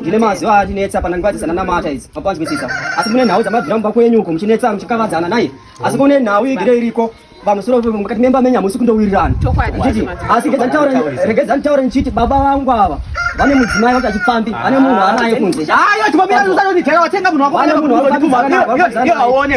ndine mazuva atinetsa pana nguva dzese nanamata idzi mapanzwisisa asi mune nhau dzamabvira mumba kwenyu uko muchinetsa muchikavadzana naye asi kune nhau igere iriko pamusoro mukati memba menyu hamusi kundowirirana ndichiti asi regedza nditaure ndichiti baba vangu ava vane mudzimai vati achipfambi vane munhu anaye kunze aone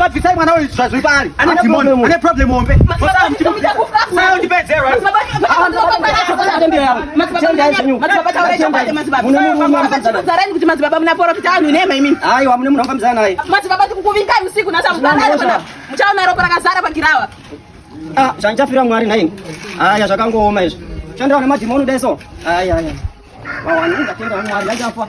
Vabvisai mwana uyu zvazviri paari ane dhimoni ane problem hombe kuti madzibaba munaporofita anhu inema imini aiwa mune munhu angamzana naye madzibaba tikukuvingai usiku nasamuchaona ropa rakazara pagirawa Ah, zvandichafira Mwari nhaimi. Haya zvakangooma izvi. Chandaona madhimoni dai so. Haya haya. Wawanenga tenda Mwari, ndachafa.